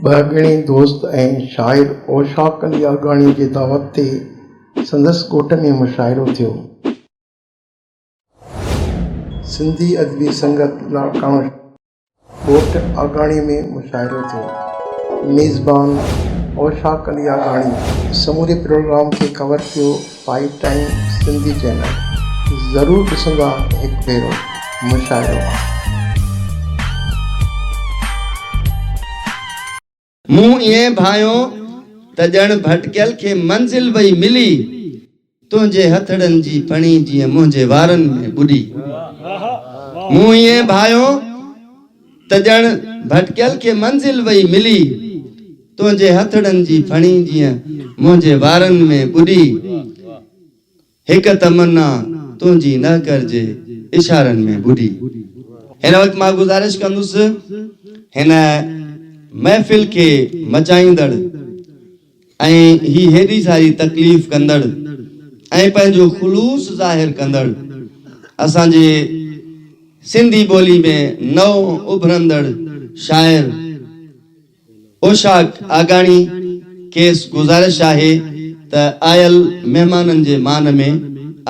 ٻهڳڻي دوست ۽ شاعر اوشاق علي آگاڻي جي دعوت تي سندس ڳوٺ ۾ مشاعرو ٿيو. سنڌي ادبي سنگت لاڙڪاڻو شهر جي ڳوٺ آگاڻي ۾ مشاعرو ٿيو. ميزبان اوشاق علي آگاڻي سموري پروگرام کي ڪور ڪيو. پائي ٽائيم سنڌي چينل ضرور ڏسندا هڪ ڀيرو مشاعرو. مون ائين ڀانئيو ته ڄڻ ڀٽڪيل کي منزل وئي ملي، تنهنجي هٿڙن جي پڻي جيئن منهنجي وارن ۾ ٻڏي. مون ائين ڀانئيو ته ڄڻ ڀٽڪيل کي منزل وئي ملي، تنهنجي هٿڙن جي ڦڻي جيئن منهنجي وارن ۾ ٻڏي، هڪ تمنا تنهنجي نهڪر جي اشارن ۾ ٻڏي. هن وقت مان گذارش ڪندس هن محفل کي مچائيندڙ. ۽ هي هيڏي ساري تڪليف ڪندڙ ۽ پنهنجو خلوص ظاهر ڪندڙ اسان جي سنڌي ٻولي ۾ نئون اڀرندڙ شاعر اوشاق آگاڻي کيس گذارش آهي ته آيل مهمانن جي مان ۾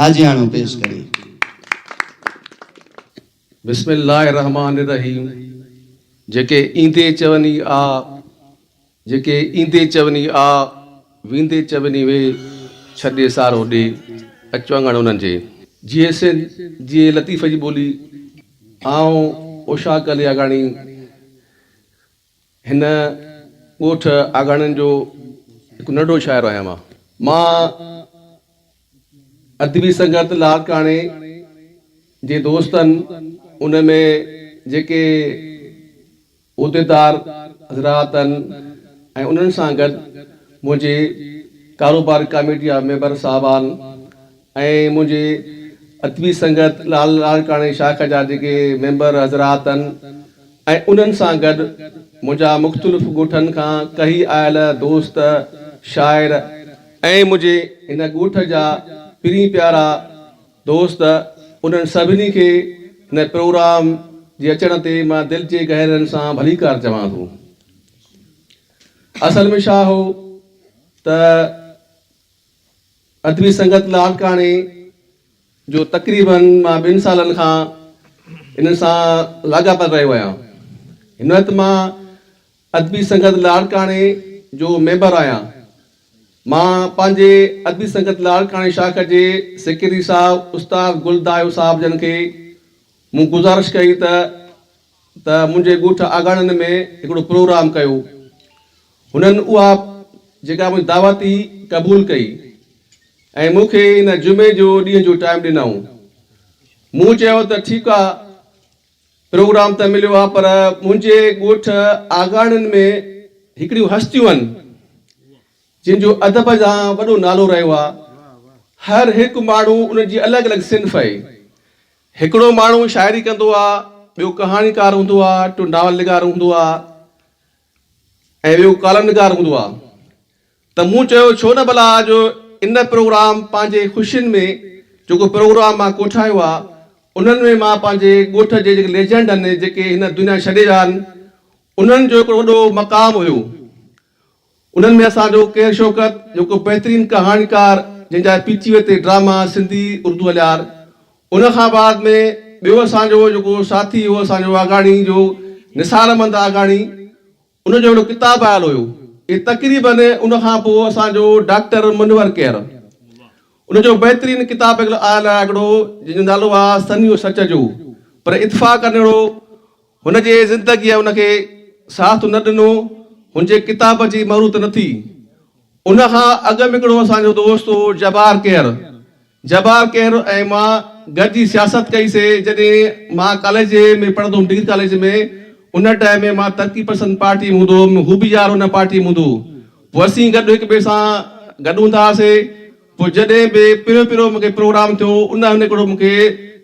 آجياڻو پيش ڪري. بسم الله الرحمٰن الرحيم جيڪي ايندي چون ئي آ. جيڪي ايندي چوني آ، ويندي چوني وي، ڇڏي سارو ڏي، اچ وانگڻ انهن جي. جيئي سنڌ، جيئي لطيف جي ٻولي، آئون اوشا ڪلي آگاڻي، هن ڳوٺ آگاڻين جو هڪ ننڍڙو شاعر آهيان مان. مان ادبي سنگت لاڙڪاڻي جي دوستن ان ۾ جيڪي. عهديدار حضرات ۽ انهن سان گڏ منهنجي ڪاروبار ڪاميٽي جا ميمبر صاحبان ۽ منهنجي ادبي سنگت لال لاڙڪاڻي شاخ جا جيڪي ميمبر حضرات ۽ انهن سان گڏ منهنجا مختلف ڳوٺن کان ڪهي آيل دوست شاعر ۽ منهنجي هن ڳوٺ جا پرين پيارا دوست انهن سڀني کي هن پروگرام جي اچڻ تي مان دل جي گهرائين سان ڀليڪار چوان ٿو. اصل ۾ ڇا هو ته ادبي سنگت لاڙڪاڻي جو تقريباً مان ٻن سالن کان انهن سان لاڳاپيل رهيو آهيان. هن وقت مان ادبي سنگت لاڙڪاڻي جو ميمبر آهيان. مان پنهنجي ادبي سنگت لاڙڪاڻي شاخ جي سيڪريٽري صاحب استاد گل دايو صاحب جن کي مون گذارش ڪئي ته ته منهنجي ڳوٺ آگاڻن ۾ هڪڙو پروگرام ڪيو. هنن اها جيڪا منهنجي دعوت هئي قبول ڪئي ۽ مون کي ان جمعي جو ڏينهن جو ٽائيم ڏنائون. مون چيو ته ٺيڪ آ. پروگرام ته مليو آ پر منهنجي ڳوٺ آگاڻن ۾ هڪڙيون هستيون آهن جن جو ادب جا وڏو نالو رهيو آ هر هڪ ماڻهو انهن جي الڳ الڳ صنف اهي هڪڙو ماڻهو شاعري ڪندو آ ٻيو ڪهاڻيڪار هوندو آ ٽيو ناول نگار هوندو آ ۽ اهو ڪالم نگار هوندو آ ته مون چيو ڇو نه ڀلا جو ان پروگرام پنهنجي خوشين ۾ جيڪو پروگرام مان ڪوٺايو آ انهن ۾ مان پنهنجي ڳوٺ جي جيڪي ليجنڊ هن جيڪي هن دنيا ڇڏي ويا آهن انهن جو هڪڙو وڏو مقام هيو انهن ۾ اسان جو قير شوڪت جيڪو بهترين ڪهاڻيڪار جنهن جا پي ٽي وي تي ڊراما سنڌي اردو هليار ان کان بعد ۾ ٻيو اسان جو جيڪو ساٿي هو اسان جو آگاڻي جو نثارمند آگاڻي ان جو هڪڙو ڪتاب آيل هيو اهي تقريباً ان کان پوء اسان جو ڊاڪٽر منور ڪير ان جو بهترين ڪتاب آيل آهي هڪڙو جنهن جو نالو آهي سنيو سچ جو پر اتفاق انهڙو هن جي زندگيء ان کي ساٿ نه ڏنو، هن جي ڪتاب جي مروت نه ٿي. ان کان اڳ ۾ هڪڙو اسان جو دوست هو جبار ڪير. جبار ڪير ۽ مان گڏجي سياست ڪئي سي، جڏهن مان ڪاليج ۾ پڙهندو هوم ڊگري ڪاليج ۾ ان ٽائيم ۾ مان ترقي پسند پارٽي ۾ هوندو هوم، هو به يار ان پارٽي ۾ هوندو هو. پوء اسين گڏ هڪ ٻئي سان گڏ هوندا هئاسي. پوء جڏهن به پهريون پهريون مون کي پروگرام ٿيو، ان هن هڪڙو مون کي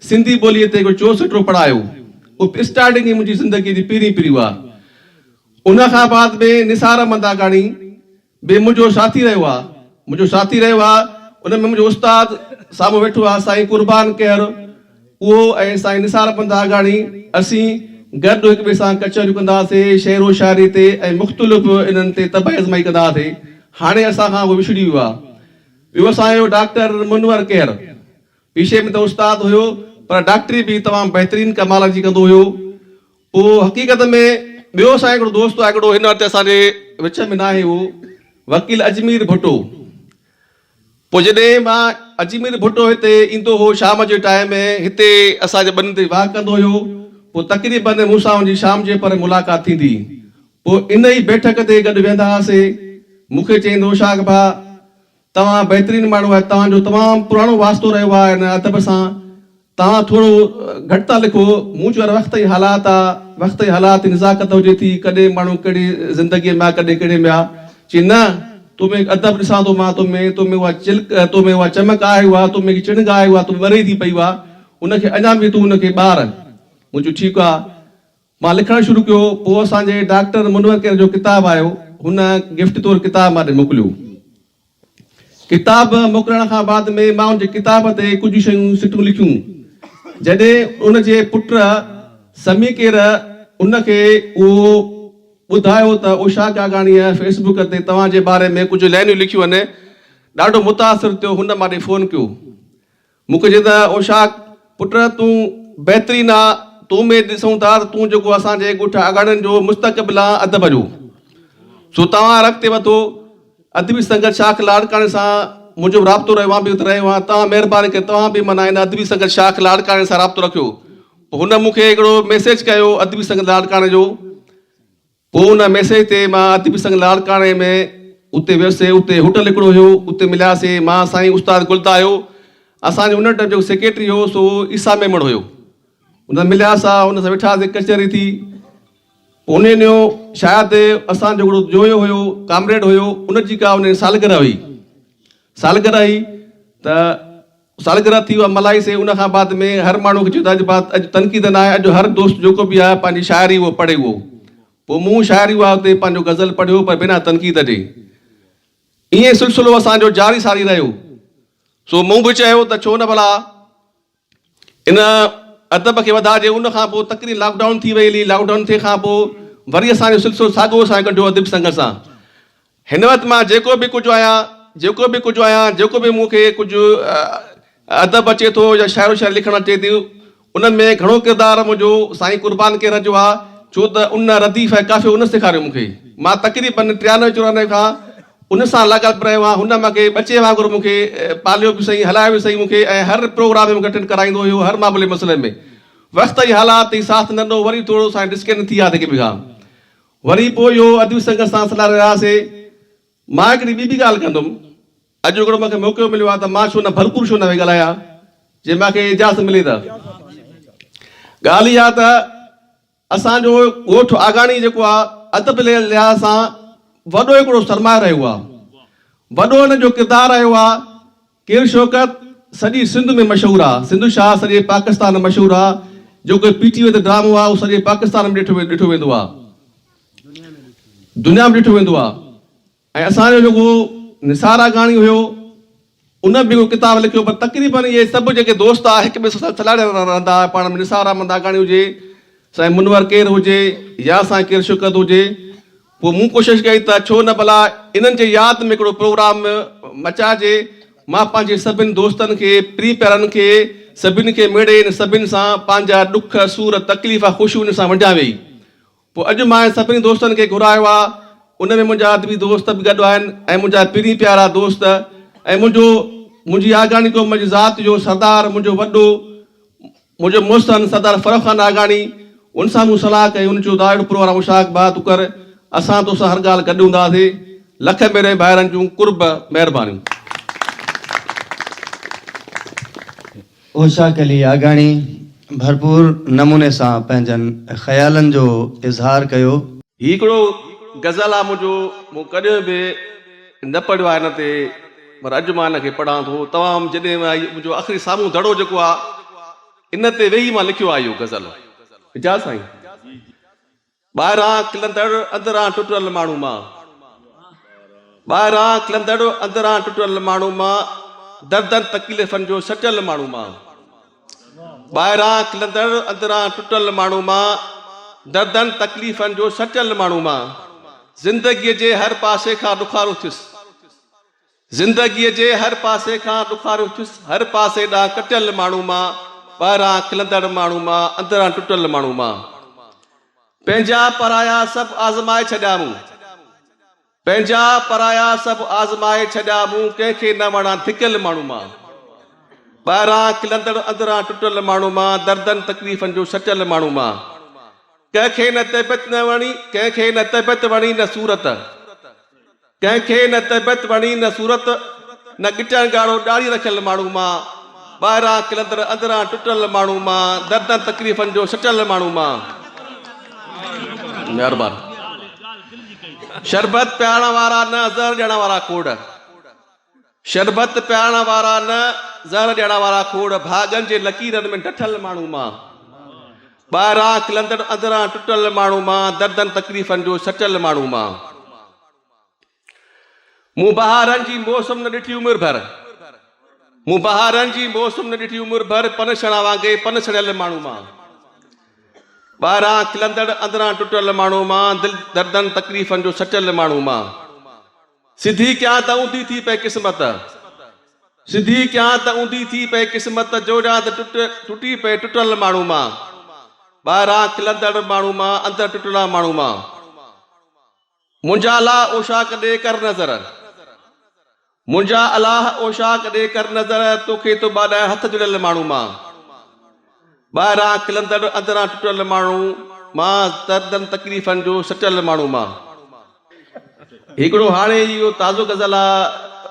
سنڌي ٻوليء تي هڪڙو چوسٽو پڙهايو. اهو اسٽارٽنگ ئي منهنجي زندگيء جي پهرين پريو آ. ان کان بعد ۾ نثار احمد آگاڻي به منهنجو ساٿي رهيو آ. منهنجو ساٿي رهيو آ. ان ۾ منهنجو استاد سامهون ويٺو آ سائين قربان کهر اهو ۽ سائين نثار احمد آگاڻي اسين گڏ هڪ ٻئي سان ڪچهريون ڪندا سي، شعر و شاعري تي ۽ مختلف انهن تي طبع ازمائي ڪندا هئاسي. هاڻي اسان کان اهي وڇڙي ويو آهي. ٻيو اسان جو ڊاڪٽر منور ڪير پيشي ۾ ته استاد هيو پر ڊاڪٽري به تمام بهترين ڪمال جي ڪندو هيو. پوء حقيقت ۾ ٻيو اسان جو هڪڙو دوست آهي هڪڙو هن وقت اسان جي وچ ۾ ناهي اهو وڪيل اجمير ڀٽو. پوء جڏهن مان اجمير ڀٽو هتي ايندو هو شام جي ٽائيم هتي اسان جي ٻنين تي واهه ڪندو هيو پوء تقريباً مون سان هن جي شام جي پهر ملاقات ٿيندي پوء ان ئي بيٺڪ تي گڏ ويهندا هئاسي مون کي چئين هو شاخ ڀاء توهان بهترين ماڻهو آهي توهان جو تمام پراڻو واسطو رهيو آهي هن ادب سان توهان ٿورو گهٽ ٿا لکو. مون چيو يار وقت ۽ حالات آ وقت ۽ حالات جي نزاڪت هجي ٿي ڪڏهن ماڻهو ڪهڙي زندگي ۾ آ ڪڏهن ڪهڙي ۾ آ چي نه تو ۾ ادب ڏسان ٿو مان تو ۾ تو ۾ اها چلڪ تو ۾ اها چمڪ آهي اها تو ۾ هڪ چڻگ آهي اها تو ۾ ٻري ٿي پئي اها ان کي اڃا به تون ان کي ٻار مون چيو ٺيڪ آ مان لکڻ شروع ڪيو پوء اسان جي ڊاڪٽر منور ڪير جو ڪتاب آيو هن گفٽ طور ڪتاب مان ڏي موڪليو. ڪتاب موڪلڻ کان بعد ۾ مان ان جي ڪتاب تي ڪجهه شيون سٽون لکيون. جڏهن ان جي پٽ سميڪير ان کي اهو ٻڌايو ته اوشا گاگاڻيء فيس بڪ تي توهان جي باري ۾ ڪجهه لائنيون لکيون آهن، ڏاڍو متاثر ٿيو هن ماڏي فون ڪيو. مون کي چئي ته اوشاق پٽ تون بهترين آ، تو ۾ ڏسون ٿا ته تون جيڪو اسان جي ڳوٺ آگاڙين جو مستقبل آ ادب جو، سو توهان رخ تي وڌو. ادبي سنگت شاخ لاڙڪاڻي سان منهنجو به رابطو رهيو، مان به اتي رهيو آهيان، توهان مهرباني ڪري توهان به معنيٰ هن ادبي سنگت شاخ لاڙڪاڻي سان رابطو رکيو. پوء هن مون کي هڪڙو ميسيج ڪيو ادبي سنگت لاڙڪاڻي جو. پوء ان ميسيج تي مان ادبي سنگ لاڙڪاڻي ۾ اتي ويسي اتي هوٽل هڪڙو هيو اتي ملياسي مان سائين استاد گلدايو اسان جو ان ٽئم جيڪو سيڪريٽري هيو سو عيسيٰ ميمڻ هيو ان سان ملياسا ان سان ويٺاسي ڪچهري ٿي پوء ان ڏينهن شايد اسان جو هڪڙو جويو هيو ڪامريڊ هيو ان جي ڪا ان سالگره هئي سالگره هئي ته سالگرهه ٿي اها ملهائي سي ان کان بعد ۾ هر ماڻهو کي چيو ته اڄ بعد اڄ تنقيد ناهي اڄ هر دوست جيڪو به آهي پنهنجي شاعري اهو پڙهي اهو پوء مون شاعري اها اتي پنهنجو غزل پڙهيو پر بنا تنقيد جي ائين سلسلو اسان جو جاري ساري رهيو سو مون به چيو ته ڇو نه ڀلا ان ادب کي وڌائجي ان کان پوء تقرير لاڪ ڊائون ٿي وئي هلي لاڪ ڊائون ٿي کان پوء وري اسان جو سلسلو ساڳو اسان ڪڍيو اديب سنگهه سان هن وقت مان جيڪو به ڪجهه آهيان، جيڪو به ڪجهه آهيان، جيڪو به مون کي ڪجهه ادب اچي ٿو يا شاعر و شاعري لکڻ اچي ٿي، ان ۾ گهڻو ڪردار منهنجو سائين قربان ڪيرر جو آهي، ڇو ته ان رديف ۽ قافيو ان سيکاريو مون کي. مان تقريباً ٽيانوي چورانوي کان ان سان لاڳاپيل رهيو آهيان، هن مون کي ٻچي وانگر مون کي پاليو به سهي، هلايو به سهي مون کي ۽ هر پروگرام ۾ مون کي اٽينڊ ڪرائيندو هيو، هر معاملي مسئلي ۾ وقت ۽ حالات ۽ ساٿ نه ڏنو، وري ٿورو سائين ڊسڪنٽ ٿي ويا آهن هڪ ٻئي کان. وري پوء اهو ادبي سنگت سان سلهاڙي رهياسي. مان هڪڙي ٻي به ڳالهه ڪندم. اڄ هڪڙو مون کي موقعو مليو آهي ته مان ڇو نه ڀرپور شو نه ويهي ڳالهايان، جي مون کي اجازت ملي ته. ڳالهه اها ته اسان جو ڳوٺ آگاڻي جيڪو آهي، ادب جي لحاظ سان وڏو هڪڙو سرمايه رهيو آهي. وڏو ان جو ڪردار رهيو آهي. ڪير شوڪت سڄي سنڌ ۾ مشهور آ سنڌو شاهه سڄي پاڪستان مشهور آ جو ڪوئي پي ٽي وي تي ڊرامو آ اهو سڄي پاڪستان ۾ ڏٺو ويندو آ دنيا ۾ ڏٺو ويندو آ ۽ اسان جو جيڪو نثار آگاڻي هيو ان به ڪتاب لکيو پر تقريبن اهي سڀ جيڪي دوست آ هڪ ٻئي سان سلاڙيا رهندا آ پاڻ ۾ نثار احمد آگاڻي هجي سائين منور ڪير هجي يا سائين ڪير شوڪت هجي پوء مون ڪوشش ڪئي ته ڇو نه ڀلا انهن جي ياد ۾ هڪڙو پروگرام مچائجي. مان پنهنجي سڀني دوستن کي، پرين پيارن کي، سڀني کي ميڙي ان سڀني سان پنهنجا ڏک، سور، تڪليف، خوشيون انهن سان ونڊيان ويئي. پوء اڄ مان سڀني دوستن کي گهرايو آ. ان ۾ منهنجا ادبي دوست به گڏ آهن ۽ منهنجا پرين پيارا دوست ۽ منهنجو منهنجي آگاڻي قوم جي ذات جو سردار منهنجو وڏو منهنجو محسن سردار فرخ خان ناگاڻي، ان سان مون صلاح ڪئي، هن چيو، دائود پروهرا مشاق بها تون ڪر، اسان تو سان هر ڳالهه گڏ هونداسين، لک ميري ڀائرن جون قرب مهربانيون. اوشاق علي آگاڻي ڀرپور نموني سان پنهنجن خيالن جو اظهار ڪيو. هي هڪڙو غزل آ منهنجو، مون ڪڏهن به. نه پڙهيو آهي هن تي پر اڄ مان هن کي پڙهان ٿو تمام جڏهن مان هي منهنجو آخري سامهون دڙو جيڪو آ ان تي ويهي مان لکيو آ اهو غزل اجاز سائين ٻاهران کلندڙ اندران ٽٽل ماڻهو مان ٻاهران کلندڙ اندران ٽٽل ماڻهو مان دردن تڪليفن جو سٽيل ماڻهو مان ٻاهران کلندڙ اندران ٽٽل ماڻهو مان، دردن تڪليفن جو سٽيل ماڻهو مان، زندگيء جي هر پاسي کان ڏکارو ٿيس، زندگيء جي هر پاسي کان ڏکارو ٿيس، هر پاسي ڏانهن ڪٽيل ماڻهو مان، ٻاهران کلندڙ ماڻهو مان، اندران ٽٽل ماڻهو مان، پنهنجا پرايا سڀ آزمائي ڇڏيا مون. پنهنجا پرايا سڀ آزمائي ڇڏيا مون ڪنهن کي نه وڻان ٿڪيل ماڻهو مان ٻاهران کلندڙ اندران ٽٽل ماڻهو مان دردن تڪليفن جو سٽيل ماڻهو مان ڪنهن کي نه طبيعت نه وڻي ڪنهن کي نه طبيعت وڻي نه صورت ڪنهن کي نه طبيعت وڻي نه صورت نه ڳٽن ڳاڙهو ڏاڙهي رکيل ماڻهو مان ٻاهران کلندڙ اندران ٽٽل ماڻهو مان دردن تڪليفن جو سٽل ماڻهو مان مهربان شربت پيارڻ وارا نه زهر ڏيڻ وارا کوڙ شربت پيارڻ وارا نه زهر ڏيڻ وارا کوڙ ڀاڳن جي لڪيرن ۾ ڊٺل ماڻهو مان ٻاهران کلندڙ اندران ٽٽل ماڻهو مان دردن تڪليفن جو سٽل ماڻهو مان مون بهارن جي موسم نه ڏٺي عمر ڀر مون بهارن جي موسم نه ڏٺي عمر ڀر پن سڻا وانگي پن سڙيل ماڻهو مان ٻاهران کلندڙ اندران ٽٽل ماڻهو مان دل دردن تڪليفن جو سچل ماڻهو مان سڌي ڪيان ته اوندي ٿي پئي قسمت سڌي ڪيان ته اوندي ٿي پئي قسمت جو جان ته ٽٽ ٽٽي پئي ٽٽل ماڻهو مان ٻاهران کلندڙ ماڻهو مان اندر ٽٽلا ماڻهو مان منهنجا لا اوشاق ڏي ڪر نظر. منهنجا الاهه اوشاق ڏي ڪر نظر توکي ٿو ٻاڏائين هٿ جڙيل ماڻهو مان ٻاهران کلندڙ اندران ٽٽل ماڻهو مان دردن تڪليفن جو سٽيل ماڻهو مان هيڪڙو هاڻي ئي اهو تازو غزل آ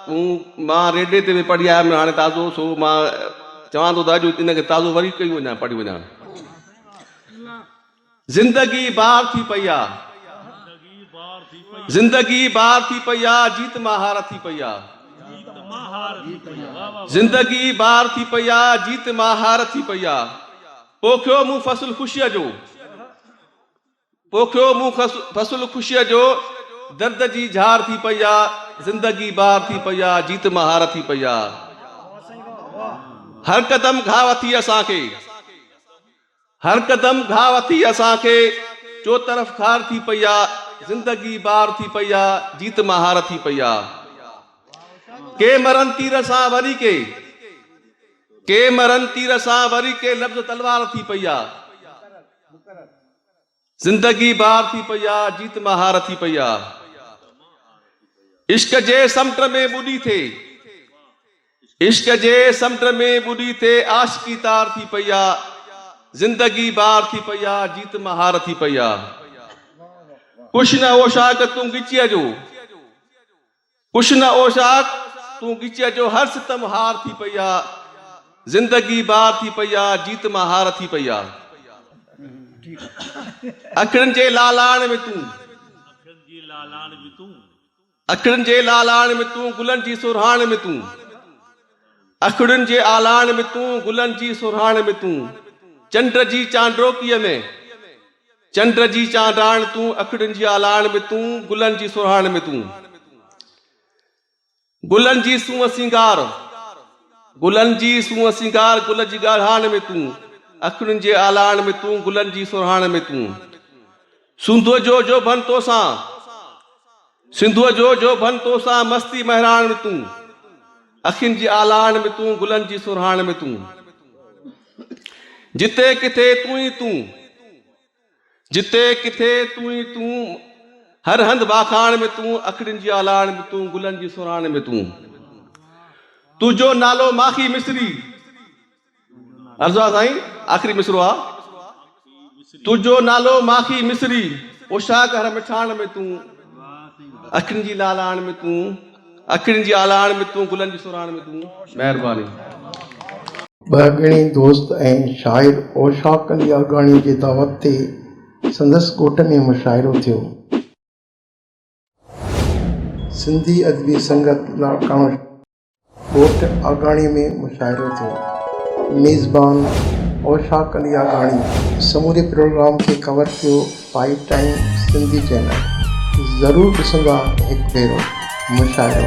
مون مان ريڊيو تي به پڙهي آيم هاڻي تازو سو مان چوان ٿو ته اڄ ان کي تازو وري ڪيون وڃان پڙهي وڃان زندگي بار ٿي پئي آ. زندگي بار ٿي پئي آ. جيت ماهار ٿي پئي آ. زندگي بار ٿي پئي آ. جيت ماهار ٿي پئي آ. پوکيو مون فصل خوشيء جو. پوکيو مون فصل خوشيء جو. درد جي جھار ٿي پئي آ. زندگي بار ٿي پئي آ. جيت ماهار ٿي پئي آ. هر قدم گھاء ٿي اسان کي. هر قدم گهاء ٿي اسان کي، چوطرف خار ٿي پئي آ، زندگي بار ٿي پئي آ، جيت مهار ٿي پئي آ. ڪي مرن تير سان وري ڪي، ڪي مرن تير سان وري ڪي لفظ تلوار ٿي پئي آ. زندگي بار ٿي پئي آ، جيت مان هار ٿي پئي آ. عشق جي سمنڊ ۾ ٻڏي ٿي، عشق جي سمنڊ ۾ ٻڏي ٿي عاشقي تار ٿي پئي آ. زندگي بار ٿي پئي آ، جيت مان هار ٿي پئي آ. ڪش نه هو شاخ تون ڳچيء جو، ڪش نه او شاخ تون ڳچيء جو هر ستم هار ٿي پئي آ زندگي بار ٿي پئي آ جيت مان هار ٿي پئي آ اکڙن جي لالاڻ ۾ تون اکڙن جي لالاڻ ۾ تون گلن جي سرهاڻ ۾ تون اکڙن جي آلاڻ ۾ تون گلن جي سرهاڻ ۾ تون چنڊ جي چانڊوڪيء ۾. چنڊ جي چانڊاڻ تون، اکڙين جي آلاڻ ۾ تون، گلن جي سرهاڻ ۾ تون. گلن جي سونهن سينگار، گلن جي سونهن سينگار، گل جي ڳاڙهاڻ ۾ تون، اکڙين جي آلاڻ ۾ تون، گلن جي سرهاڻ ۾ تون. سنڌوء جو جوڀن توسان. سنڌوء جو جوڀن تو سان مستي مهراڻ ۾ تون اکين جي آلاڻ ۾ تون گلن جي سرهاڻ ۾ تون جتي ڪٿي تون ئي تون جتي ڪٿي تون ئي تون هر هنڌ واکاڻ ۾ تون اکڙين جي آلاڻ ۾ تون گلن جي سرهاڻ ۾ تون تنهنجو نالو ماخي مصري عرضا سائين آخري مصرعو آ. تنهنجو نالو ماکي مصري پوشاڪ هر مٺاڻ ۾ تون اکين جي لالاڻ ۾ تون اکين جي آلاڻ ۾ تون گلن جي سوراڻ ۾ تون مهرباني. ٻهڳڻي دوست ۽ شاعر اوشاق علي آگاڻي جي دعوت تي سندس ڳوٺ ۾ مشاعرو ٿيو. سنڌي ادبي سنگت لاء ڪانوڙ ڳوٺ آگاڻي ۾ مشاعرو ٿيو. ميزبان اوشاق علي آگاڻي سموري پروگرام کي ڪور ڪيو فائيو ٽائيم سنڌي چينل ضرور ڏسندا هڪ ڀيرو مشاعرو.